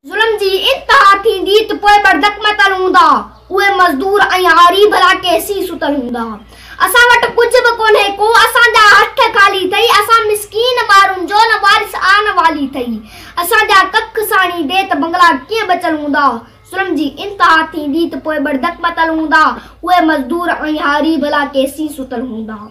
ظلم جي انتها ٿيندي ته پوء بردڪ متل هوندا، اهي مزدور ۽ هاري ڀلا ڪيسين ستل هوندا. اسان وٽ ڪجهه به ڪونهي ڪو، اسان جا هٿ خالي ٿئي، اسان مسڪين مارن جو نه وارث آ نه والي ٿئي، اسان جا ڪک ساڻي ڏي ته بنگلا ڪيئن بچل هوندا، ظلم جي انتها ٿيندي ته پوء بردڪ متل هوندا، اهي مزدور ۽ هاري ڀلا ڪيسين ستل هوندا.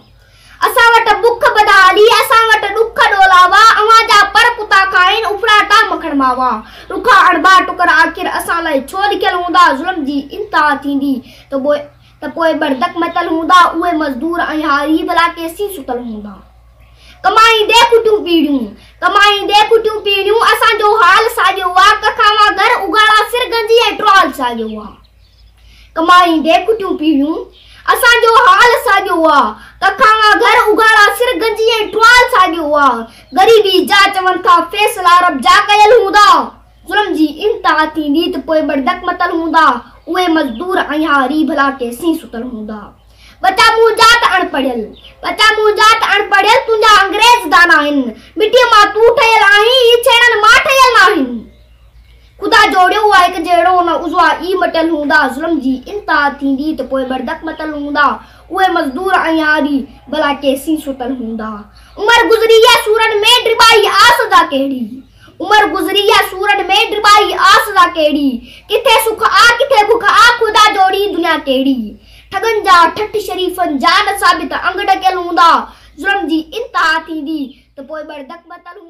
اسان وٽ بک بدحالي، اسان وٽ ڏک ڏولاوا، اوهان جا پر ڪتا کائين، اڦراٽا مکڻ ماوا، ڏکا اڻڀا ٽڪر آخر اسان لاء ڇو لکيل هوندا، ظلم جي انتها ٿيندي ته پوء ته پوء بڙدڪ متل هوندا، اهي مزدور ۽ هاري ڀلا ڪيسين ستل هوندا. ڪمائيندي ڪٽيون پيڙهيون، ڪمائيندي ڪٽيون پيڙهيون، اسان جو حال ساڳيو آ، ڪک اوهان گهر اگهاڙا سر گنجي ۽ ٽرال ساڳيو آ. ڪمائيندي ڪٽيون پيڙهيون، اسان جو حال ساڳيو هئا، ڪکاڱا گهر اگهاڙا سر گنجي ۽ ٽوال ساڳيو هئا، غريبي جا چون ٿا فيصلا رب جا ڪيل هوندا، ظلم جي انتها ٿيندي ته پوء بڙدڪ متل هوندا، اهي مزدور ۽ اها ري ڀلا ڪنهن سين ستل هوندا. ٻچا مون جا ته اڻ پڙهيل، ٻچا مون جا ته اڻ پڙهيل تنهنجا انگريز دانا آهن، مٽيء مان تون ٺهيل آهين، هي ڇيڻن مان ٺهيل ناهن. خدا جوڙيو هو هڪ جهڙو نه عضوا ئي مٽيل هوندا ظلم جي انتها ٿيندي ته پوء بردڪ متل هوندا اهي مزدور ۽ هاري ڀلا ڪيسين ستل هوندا عمر گذري يا سورن ۾ ڊٻائي آس ادا ڪهڙي عمر گذري يا سورن ۾ ڊٻائي آس ادا ڪهڙي ڪٿي سک آ ڪٿي بک آ خدا جوڙي دنيا ڪهڙي ٺڳن جا ٺٺ شريفن جا نه ثابت انگ ڍڪيل هوندا ظلم جي انتها ٿيندي ته پوء بردڪ متل هوندا.